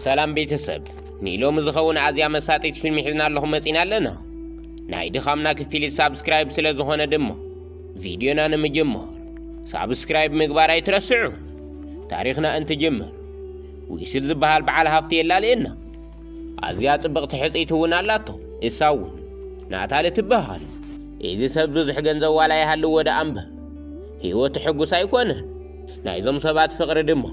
ሰላም ቤተሰብ ንኢሎሚ ዝኸውን ኣዝያ መሳጢት ፊልም ሒዝናለኹም መጺና ኣለና ናይ ድኻምና ክፊሊት ሳብስክራይብ ስለ ዝኾነ ድማ ቪድዮና ንምጅማር ሳብስክራይብ ምግባር ኣይትረስዑ ታሪኽና እንትጅምር ዊስል ዝበሃል በዓል ሃፍቲ የላልየና ኣዝያ ጽብቕቲ ሕፅይቲ እውን ኣላቶ እሳ እውን ናታሊ ትበሃል እዚ ሰብ ብዙሕ ገንዘብ ዋላ ይሃልዎ ደኣ እምበር ህይወቱ ሕጉስ ኣይኮነን ናይዞም ሰባት ፍቕሪ ድማ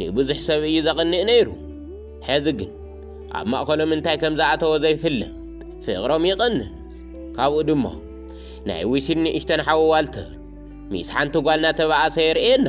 ንብዙሕ ሰብ እዩ ዘቕንእ ነይሩ። ሕዚ ግን ኣብ ማእኸሎም እንታይ ከም ዝኣተወ ዘይፍለጥ ፍቕሮም ይቕንስ። ካብኡ ድማ ናይ ዊሲን ንእሽተን ሓዊ ዋልተር ሚስ ሓንቲ ጓል እናተባኣሰ የርእየና።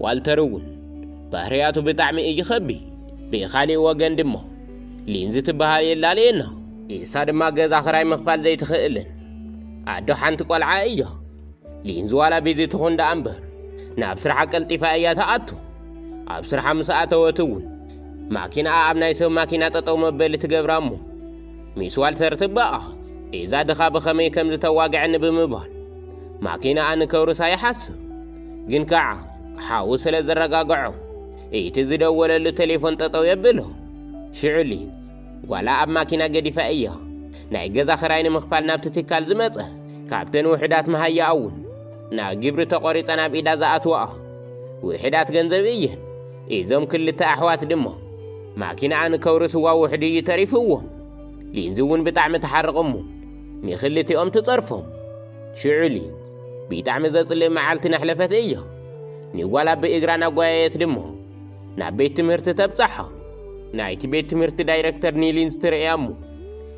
ዋልተር እውን ባህርያቱ ብጣዕሚ እዩ ኸቢ። ብኻሊእ ወገን ድማ ሊንዚ ትበሃል የላልየና። ኢሳ ድማ ገዛ ኽራይ ምኽፋል ዘይትኽእልን ኣዶ ሓንቲ ቆልዓ እያ። ሊንዝ ዋላ ቤዚ ትኹን ደኣ እምበር ናብ ስራሓ ቀልጢፋ እያ ትኣቱ። ኣብ ስራሓ ምስ ኣተወት እውን ማኪናኣ ኣብ ናይ ሰብ ማኪና ጠጠው መበሊ ትገብራ እሞ ሚስ ዋልተር ትበኣኽ እዛ ድኻ ብኸመይ ከም ዝተዋግዐኒ ብምባል ማኪናኣ ንከውርሳ ይሓስብ። ግን ከዓ ሓዉ ስለ ዘረጋግዖ እቲ ዝደወለሉ ቴሌፎን ጠጠው የብሎ። ሽዑ ሊንዝ ጓላ ኣብ ማኪና ገዲፋ እያ ናይ ገዛ ኽራይ ንምኽፋል ናብቲ ትካል ዝመጸ ካብተን ውሕዳት መሃያኣ እውን ናብ ግብሪ ተቖሪጸን ኣብ ኢዳ ዝኣትዋኣ ውሕዳት ገንዘብ እየን እዞም ክልተ ኣሕዋት ድማ ማኪናኣ ንከውርስዋ ውሕዱ እዩ ተሪፍዎም ሊንዚ እውን ብጣዕሚ ተሓርቕ እሞ ንክልቲኦም ትጸርፎም ሽዑ ሊን ብጣዕሚ ዘጽልእ መዓልቲ ነሕለፈት እያ ንጓላ ብእግራ ናጓየየት ድማ ናብ ቤት ትምህርቲ ተብጻሖም ናይቲ ቤት ትምህርቲ ዳይረክተር ኒሊን ዝትርእያ እሞ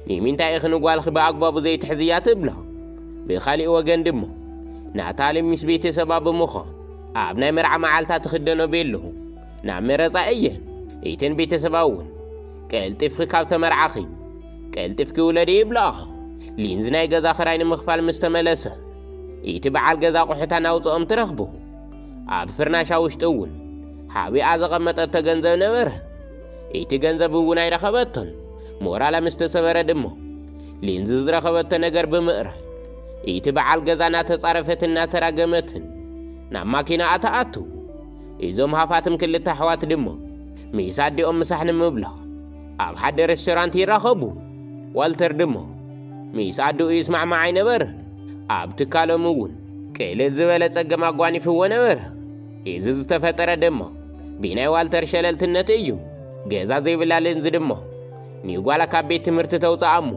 ንምንታይ ኢኺ ንጓልኺ ብኣግባቡ ዘይትሕዝያ ትብሎ ብኻሊእ ወገን ድማ ናታሊ ምስ ቤተሰባ ብምዃን ኣብ ናይ መርዓ መዓልታ ትኽደኖ ቤሎ ናብ መረፃ እየን እተን ቤተሰባ እውን ቀልጢፍኺ ካብ ተመርዓኺ ቀልጢፍኪ ውለዲ ይብለኣ ሊንዝ ናይ ገዛ ኽራይ ንምኽፋል ምስ ተመለሰ እቲ በዓል ገዛ ቑሑታ ናውፅኦም ትረኽቡ ኣብ ፍርናሻ ውሽጢ እውን ሓቢኣ ዘቐመጠቶ ገንዘብ ነበረ። እቲ ገንዘብ እውን ኣይረኸበቶን። ሞራላ ምስ ተሰበረ ድማ ሊንዝ ዝረኸበቶ ነገር ብምእራይ እቲ በዓል ገዛ እናተጻረፈትን እናተራገመትን ናብ ማኪናኣ ተኣቱ። እዞም ሃፋትም ክልተ ኣሕዋት ድማ ምስ ኣዲኦም ምሳሕ ንምብላዕ ኣብ ሓደ ሬስቶራንት ይራኸቡ። ዋልተር ድማ ምስ ኣደኡ ይስማዕማዕ ኣይነበረን። ኣብ ትካሎም እውን ቅልል ዝበለ ጸገም ኣጓኒፍዎ ነበረ። እዚ ዝተፈጠረ ድማ ብናይ ዋልተር ሸለልትነት እዩ። ገዛ ዘይብላ ሌንዝ ድማ ንጓላ ካብ ቤት ትምህርቲ ተውፅኣ እሞ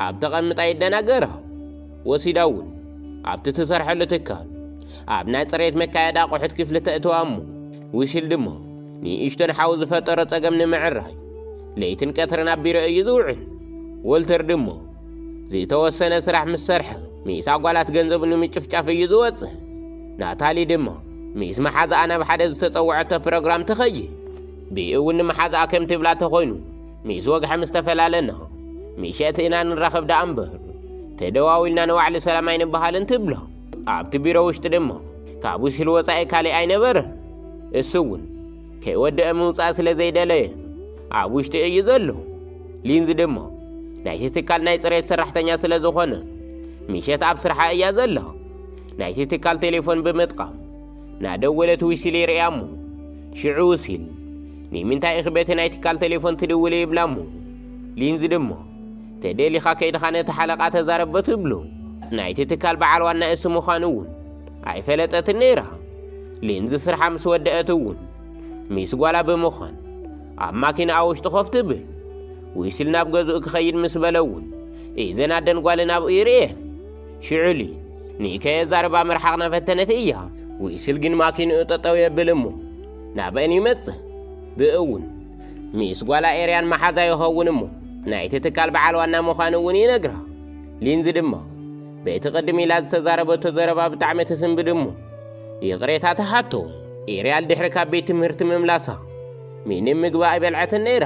ኣብ ተቐምጣ የደናገራ። ወሲዳ እውን ኣብቲ ትሰርሐሉ ትካል ኣብ ናይ ፅሬት መካየዲ ኣቑሑት ክፍሊ ተእትዋ እሞ ውሽል ድማ ንእሽቶን ሓው ዝፈጠሮ ጸገም ንምዕራይ ለይትን ቀትርን ኣቢረ እዩ ዝውዕል። ወልተር ድሞ ዝተወሰነ ስራሕ ምስ ሰርሐ ምስ ኣጓላት ገንዘቡ ንምጭፍጫፍ እዩ ዝወጽእ። ናታሊ ድማ ምስ መሓዛኣ ናብ ሓደ ዝተጸውዐቶ ፕሮግራም ትኸይድ። ብእውን ንመሓዛኣ ከም ትብላ ተኾይኑ ምስ ወግሐ ምስ ተፈላለና ምሸት ኢና ንራኸብ ደኣ እምበር ተደዋዊልና ንባዕሊ ሰላም ኣይንበሃልን ትብሎ። ኣብቲ ቢሮ ውሽጢ ድማ ካብ ውሽል ወፃኢ ካሊእ ኣይነበረ እሱ እውን ከይወደአ ምውፃእ ስለ ዘይደለየ ኣብ ውሽጢ እዩ ዘሎ ሊንዝ ድማ ናይቲ ትካል ናይ ፅሬት ሰራሕተኛ ስለ ዝኾነ ምሸት ኣብ ስርሓ እያ ዘላ ናይቲ ትካል ቴሌፎን ብምጥቃም ናደወለት ውሲል ይርእያ እሞ ሽዑ ውሲል ንምንታይ ኢኺ በቲ ናይ ትካል ቴሌፎን ትድውሊ ይብላ እሞ ሊንዝ ድማ ተደሊኻ ከይድኻ ነቲ ሓለቓ ተዛረብ ብትብሎ፣ ናይቲ ትካል በዓል ዋና እሱ ምዃኑ እውን ኣይፈለጠትን ነይራ። ሊንዝ ስርሓ ምስ ወደአት እውን ሚስ ጓላ ብምዃን ኣብ ማኪናኣ ውሽጢ ኮፍ ትብል። ዊስል ናብ ገዝኡ ክኸይድ ምስ በለ እውን ኢዘን ኣደን ጓልን ኣብኡ ይርእየን። ሽዑ ሊንዝ ንከየዛርባ ምርሓቕ ናፈተነት እያ። ዊስል ግን ማኪንኡ ጠጠው የብል እሞ ናበን ይመጽእ። ብእኡ እውን ሚስ ጓላ ኤርያን መሓዛ ይኸውን እሞ ናይቲ ትካል በዓል ዋና ምዃኑ እውን ይነግራ። ሊንዚ ድማ በቲ ቅድም ኢላ ዝተዛረበቶ ዘረባ ብጣዕሚ ትስንብድ እሞ ይቕሬታ ትሓቶ። ኤርያል ድሕሪ ካብ ቤት ትምህርቲ ምምላሳ ምንም ምግቢ ኣይበልዐትን ነይራ።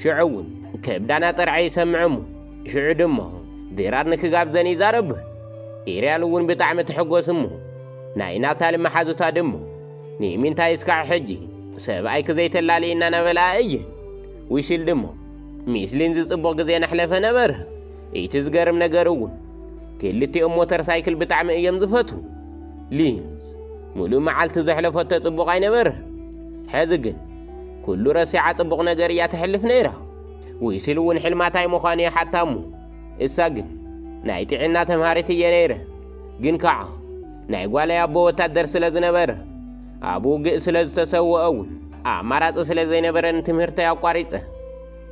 ሽዑ እውን ከብዳና ጥርዐ ይሰምዕ እሞ ሽዑ ድማ ድራር ንክጋብዘን ይዛረብን። ኤርያል እውን ብጣዕሚ ትሕጎስ እሞ ናይ ናታሊ መሓዙታ ድሞ ንምንታይ እስካዕ ሕጂ ሰብኣይኪ ዘይተላልይ እናነበላ እየን ውሽል ድሞ ሚስ ሊንዚ ጽቡቕ ግዜ ናሕለፈ ነበረ እቲ ዝገርም ነገር እውን ክልቲኦም ሞተር ሳይክል ብጣዕሚ እዮም ዝፈቱ ሊንዝ ሙሉእ መዓልቲ ዘሕለፈቶ ጽቡቕ ኣይነበረ ሕዚ ግን ኩሉ ረሲዓ ጽቡቕ ነገር እያ ተሕልፍ ነይራ ውሽል እውን ሕልማታይ ምዃኑ ይሓታ እሞ እሳ ግን ናይ ጥዒና ተምሃሪት እየ ነይረ፣ ግን ከዓ ናይ ጓለይ ኣቦ ወታደር ስለ ዝነበረ ኣብ ውግእ ስለ ዝተሰወአ እውን ኣማራፂ ስለ ዘይነበረኒ ትምህርተይ ኣቋሪፀ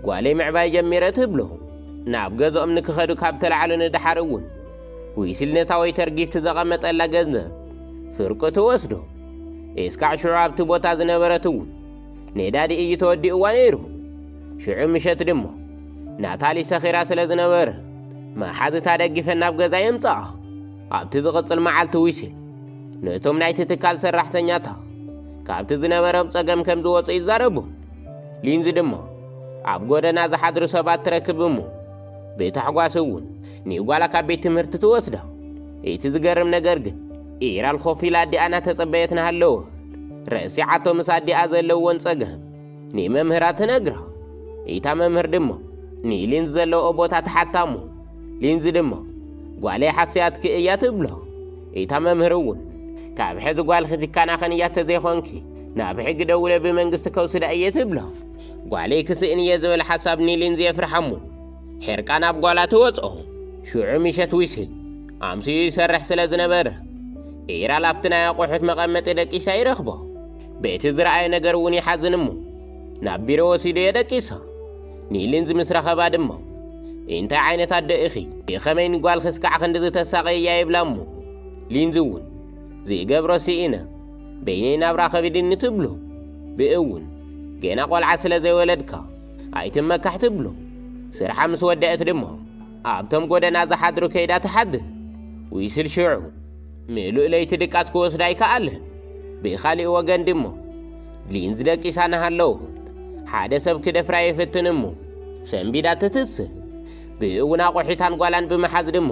ጓለይ ምዕባይ ጀሚረ ትብሎ። ናብ ገዝኦም ንክኸዱ ካብ ተላዕሉ ንድሓር እውን ዊስልነታ ወይ ተርጊፍቲ ዘቐመጠላ ገንዘብ ፍርቂ ትወስዶ። እስካዕ ሽዑ ኣብቲ ቦታ ዝነበረት እውን ኔዳዲ እዩ ተወዲእዋ ነይሩ። ሽዑ ምሸት ድሞ ናታሊ ሰኺራ ስለ ዝነበረ መሓዝታ ደጊፈን ናብ ገዛ የምጽኣ። ኣብቲ ዝቕጽል መዓልቲ ዊሲል ነቶም ናይቲ ትካል ሰራሕተኛታ ካብቲ ዝነበረም ጸገም ከም ዝወጹ ይዛረቡ። ሊንዚ ድማ ኣብ ጎደና ዝሓድሩ ሰባት ትረክብ እሞ ብታሕጓስ እውን ንጓላ ካብ ቤት ትምህርቲ ትወስዳ። እቲ ዝገርም ነገር ግን ኢራን ኾፍ ኢላ ኣዲኣ እናተጸበየት ናሃለወት ረሲዓቶ ምስ ኣዲኣ ዘለዎን ጸገም ንመምህራ ትነግራ። ኢታ መምህር ድማ ንሊንዝ ዘለዎ ቦታ ትሓታሞ። ሊንዝ ድማ ጓለይ ሓስያትኪ እያ ትብሎ። ኢታ መምህር እውን ካብ ሕዚ ጓልኺ ትከናኸን እያ ተዘይኾንኪ ናብ ሕጊ ደውለ ብመንግስቲ ከውስዳ እየ ትብሎ። ጓለይ ክስእን እየ ዝብል ሓሳብ ንሊንዝ የፍርሓሞ። ሕርቃን ኣብ ጓላ ተወጽኦ። ሽዑ ምሸት ዊስል ኣምስዩ ይሰርሕ ስለ ዝነበረ ኢራል ኣብቲ ናይ ኣቑሑት መቐመጢ ደቂሳ ይረኽቦ። በቲ ዝረኣየ ነገር እውን ይሓዝን እሞ ናብ ቢሮ ወሲዱ የደቂሳ። ኒሊንዝ ምስ ረኸባ ድማ እንታይ ዓይነት ኣደ ኢኺ ብኸመይ ንጓል ክስካዕ ክንድዚ ተሳቐያ ይብላ እሞ ሊንዝ እውን ዝገብሮ ስኢነ በይነይ ናብራ ከቢድኒ ትብሎ ብእውን ገና ቆልዓ ስለ ዘይወለድካ ኣይትመካሕ ትብሎ ስርሓ ምስ ወደአት ድማ ኣብቶም ጎደና ዝሓድሩ ከይዳ ትሓድር ዊስል ሽዑ ምሉእ ለይቲ ድቃስ ክወስዳ ኣይከኣለን ብኻሊእ ወገን ድሞ ሊንዝ ደቂሳ ናሃለዉ ሓደ ሰብ ክደፍራ የፍትን እሞ ሰንቢዳ ትትስእ ብእውን ኣቑሒታን ጓላን ብምሓዝ ድሞ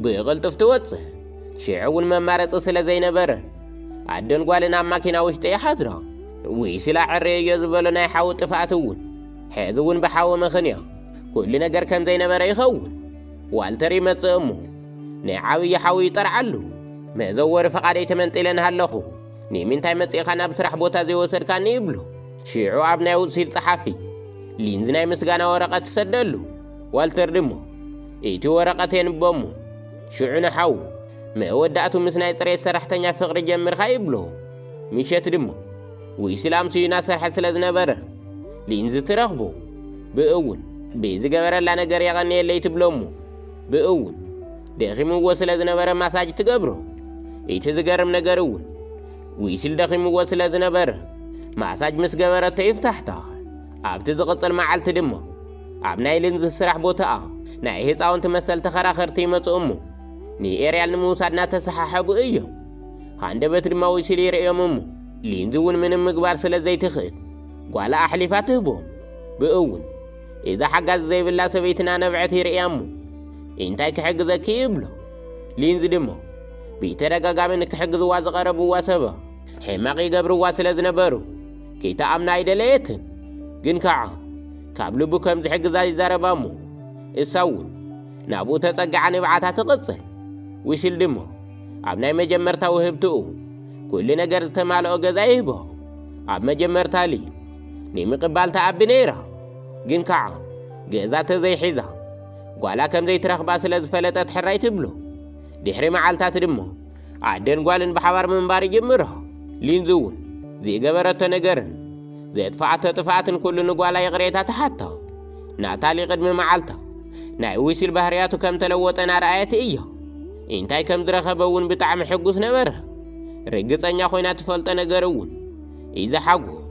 ብቕልጡፍ ትወፅእ ሽዑ እውን መማረፂ ስለ ዘይነበረን ኣደን ጓልን ኣብ ማኪና ውሽጢ ይሓድራ ውይ ስላ ዕረየዮ ዝበሎ ናይ ሓዊ ጥፍኣት እውን ሕዚ እውን ብሓዊ ምኽንያ ኩሉ ነገር ከም ዘይነበረ ይኸውን ዋልተር ይመጽእ እሞ ናይ ዓብዪ ሓዊ ይጠርዓሉ መዘወሪ ፈቓደይ ተመንጢለ ንሃለኹ ንምንታይ መጺእኻ ናብ ስራሕ ቦታ ዘይወሰድካኒ ይብሎ ሽዑ ኣብ ናይ ውሲል ጸሓፊ ሊንዝ ናይ ምስጋና ወረቐት ትሰደሉ ዋልተር ድሞ እቲ ወረቐት የንቦ እሞ ሽዑ ንሓዉ መወዳእቱ ምስ ናይ ጽሬት ሰራሕተኛ ፍቕሪ ጀምርካ ይብሎ ምሸት ድማ ዊስላም ስዩ እናሰርሐ ስለ ዝነበረ ሊንዚ ትረኽቦ ብእውን ብዝገበረላ ነገር የቐንየለይ ትብሎ እሞ ብእውን ደኺምዎ ስለ ዝነበረ ማሳጅ ትገብሮ እቲ ዝገርም ነገር እውን ዊስል ደኺምዎ ስለ ዝነበረ ማሳጅ ምስ ገበረቶ ይፍታሕታ ኣብቲ ዝቕፅል መዓልቲ ድማ ኣብ ናይ ልንዚ ስራሕ ቦታኣ ናይ ህፃውንቲ መሰል ተኸራኸርቲ ይመፁ እሞ ንኤርያል ንምውሳድ እናተሰሓሐቡ እዮም ሃንደበት ድማ ወሲሉ ይርእዮም እሞ ሊንዚ እውን ምንም ምግባር ስለ ዘይትኽእል ጓላ ኣሕሊፋ ትህቦም ብእውን እዛ ሓጋዚ ዘይብላ ሰበይትና ነብዐት ይርእያ እሞ እንታይ ክሕግዘኪ ይብሎ ሊንዚ ድማ ብተደጋጋሚ ንክሕግዝዋ ዝቐረብዋ ሰባ ሕማቕ ይገብርዋ ስለ ዝነበሩ ከይተኣምና ኣይደለየትን ግን ከዓ ካብ ልቡ ከም ዝሕግዛ ይዛረባ እሞ እሳ እውን ናብኡ ተጸጊዓ ንብዓታ ትቕጽል ውሽል ድማ ኣብ ናይ መጀመርታ ውህብትኡ ኩሉ ነገር ዝተማልኦ ገዛ ይህቦ። ኣብ መጀመርታ ሊ ንምቕባል ተኣቢ ነይራ፣ ግን ከዓ ገዛ ተዘይሒዛ ጓላ ከም ዘይትረኽባ ስለ ዝፈለጠት ሕራይ ትብሎ። ድሕሪ መዓልታት ድማ ኣደን ጓልን ብሓባር ምንባር ይጅምሮ። ሊንዚ እውን ዝገበረቶ ነገርን ዘጥፍኣቶ ጥፍኣትን ኩሉ ንጓላ ይቕሬታ ትሓቶ። ናታሊ ቅድሚ መዓልታ ናይ ዊሲል ባህርያቱ ከም ተለወጠ ናርኣየት እዮ እንታይ ከም ዝረኸበ እውን ብጣዕሚ ሕጉስ ነበረ ርግጸኛ ኮይና ትፈልጦ ነገር እውን ኢዚ ሓጎስ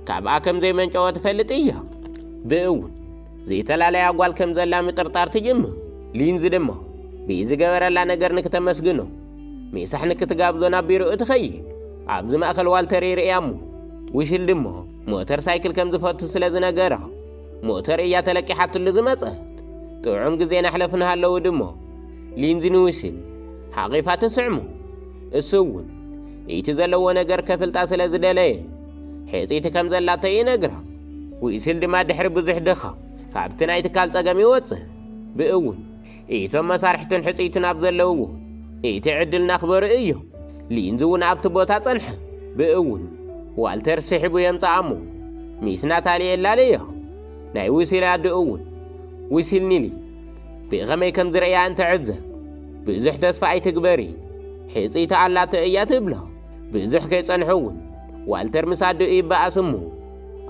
ካብኣ ከም ዘይመንጨወ ትፈልጥ እያ ብእውን ዘይተላለያ ጓል ከም ዘላ ምጥርጣር ትጅምር ሊንዚ ድማ ብኢዚ ገበረላ ነገር ንክተመስግኖ ሜሳሕ ንክትጋብዞ ናብ ቢሮኡ ትኸይድ ኣብዚ ማእኸል ዋልተር ይርእያ እሞ ዊሽል ድማ ሞተር ሳይክል ከም ዝፈቱ ስለ ዝነገራ ሞተር እያ ተለቂሓትሉ ዝመጸት ጥዑም ግዜ ናሕለፍ ንሃለዉ ድሞ ሊንዚ ንውሲን ሓቒፋ ትስዕሙ እሱ እውን እቲ ዘለዎ ነገር ከፍልጣ ስለ ዝደለየ ሕፂቲ ከም ዘላቶ ይነግራ ውሲል ድማ ድሕሪ ብዙሕ ድኻ ካብቲ ናይ ትካል ጸገም ይወፅእ ብእውን ኢቶም መሳርሕትን ሕጽይትን ኣብ ዘለውዎ እቲ ዕድል ናኽበሩ እዩ። ሊንዝ እውን ኣብቲ ቦታ ጸንሐ። ብእውን ዋልተር ስሒቡ የምጽኣ እሞ ሚስ ናታሊ የላለዮ። ናይ ዊሲል ኣደ እውን ዊሲል ኒሊ ብኸመይ ከም ዝርእያ እንትዕዘብ ብዙሕ ተስፋ ኣይትግበሪ ሕጽይቲ ኣላቶ እያ ትብሎ። ብዙሕ ከይጸንሑ እውን ዋልተር ምስ ኣዲኡ ይበኣስ እሞ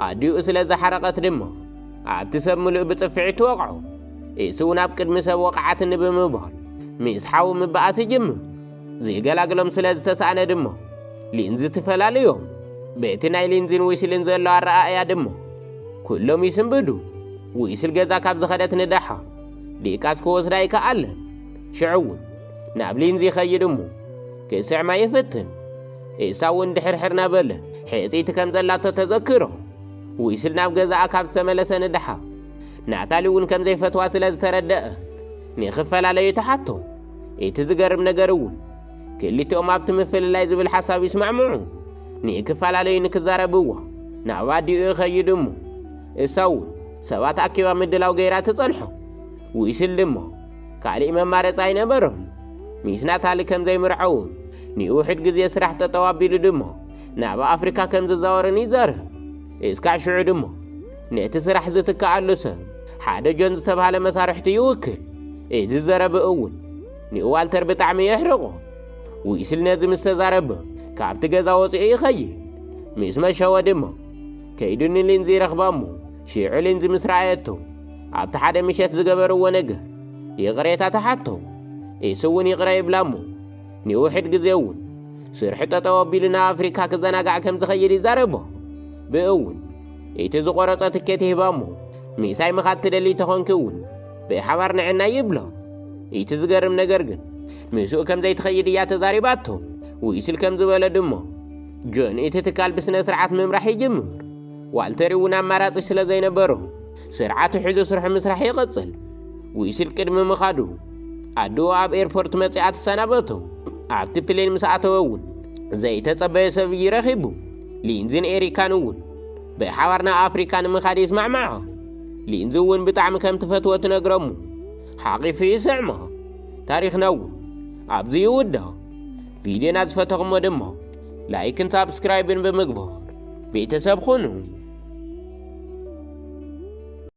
ኣዲኡ ስለ ዝሓረቐት ድማ ኣብቲ ሰብ ምሉእ ብጽፍዒት ወቕዑ። ኢሱ ናብ ቅድሚ ሰብ ወቕዓትኒ ብምባል ምስ ሓው ምበኣስ ይጅምር። ዝገላግሎም ስለ ዝተሳእነ ድሞ ሊንዚ ትፈላልዮም። በቲ ናይ ሊንዚን ዊስልን ዘሎ ኣረኣእያ ድሞ ኩሎም ይስንብዱ። ዊስል ገዛ ካብ ዝኸደት ንደሓር ዲቃስ ክወስዳ ይከኣለን። ሽዑ እውን ናብ ሊንዚ ይኸይድ እሞ ክስዕማ ይፍትን። ኢሳ እውን ድሕርሕር ናበለ ሕጽይቲ ከም ዘላቶ ተዘክሮ። ዊስል ናብ ገዛኣ ካብ ዝተመለሰ ንደሓ ናታሊ እውን ከም ዘይፈትዋ ስለ ዝተረደአ ንኽፈላለዩ ተሓቶ። እቲ ዝገርም ነገር እውን ክልቲኦም ኣብቲ ምፍልላይ ዝብል ሓሳብ ይስማዕምዑ። ንክፈላለዩ ንክዛረብዎ ናብ ኣዲኡ ይኸይድ እሞ እሳ እውን ሰባት ኣኪባ ምድላው ገይራ ትጸንሖ። ዊስል ድማ ካልእ መማረፂ ኣይነበሮም። ሚስ ናታሊ ከም ዘይምርዐውን ንውሕድ ግዜ ስራሕ ጠጠው ኣቢሉ ድማ ናብ ኣፍሪካ ከም ዝዛወርን ይዛረብ። እስካዕ ሽዑ ድማ ነቲ ስራሕ ዝትክኣሉ ሰብ ሓደ ጆን ዝተብሃለ መሳርሕቱ ይውክል። እዚ ዘረብ እውን ንዋልተር ብጣዕሚ የሕርቆ። ዊስል ነዚ ምስ ተዛረበ ካብቲ ገዛ ወፂኡ ይኸይድ። ምስ መሸወ ድማ ከይዱ ንሊንዚ ይረኽባ እሞ ሽዑ ሊንዚ ምስ ረኣየቶ ኣብቲ ሓደ ምሸት ዝገበርዎ ነገር ይቕሬታ ተሓቶ። እሱ እውን ይቕረ ይብላ እሞ ንውሕድ ግዜ እውን ስርሑ ጠጠው ኣቢሉ ናብ ኣፍሪካ ክዘናጋዕ ከም ዝኸይድ ይዛረቦ ብእውን እቲ ዝቆረፀ ትኬት ይህባ እሞ ምሳይ ምኻድ ትደሊ ተኾንኪ እውን ብሓባር ንዕና ይብሎ እቲ ዝገርም ነገር ግን ምስኡ ከም ዘይትኸይድ እያ ተዛሪባቶ ውይስል ከም ዝበለ ድሞ ጆን እቲ ትካል ብስነ ስርዓት ምምራሕ ይጅምር ዋልተር እውን ኣማራፂ ስለ ዘይነበሮ ስርዓቱ ሒዙ ስርሑ ምስራሕ ይቕጽል። ዊስል ቅድሚ ምኻዱ ኣድኡ ኣብ ኤርፖርት መጺኣ ትሰናበቶ። ኣብቲ ፕሌን ምስ ኣተወ እውን ዘይተጸበዮ ሰብ እዩ ረኺቡ። ሊንዝን ኤሪካን እውን ብሓባር ናብ ኣፍሪካ ንምኻድ ይስማዕምዖ። ሊንዝ እውን ብጣዕሚ ከም ትፈትዎ ትነግረሙ ሓቒፉ ይስዕሞ። ታሪኽና እውን ኣብዚ ይውዳእ። ቪድዮና ዝፈተኹሞ ድማ ላይክን ሳብስክራይብን ብምግባር ቤተሰብ ኹኑ።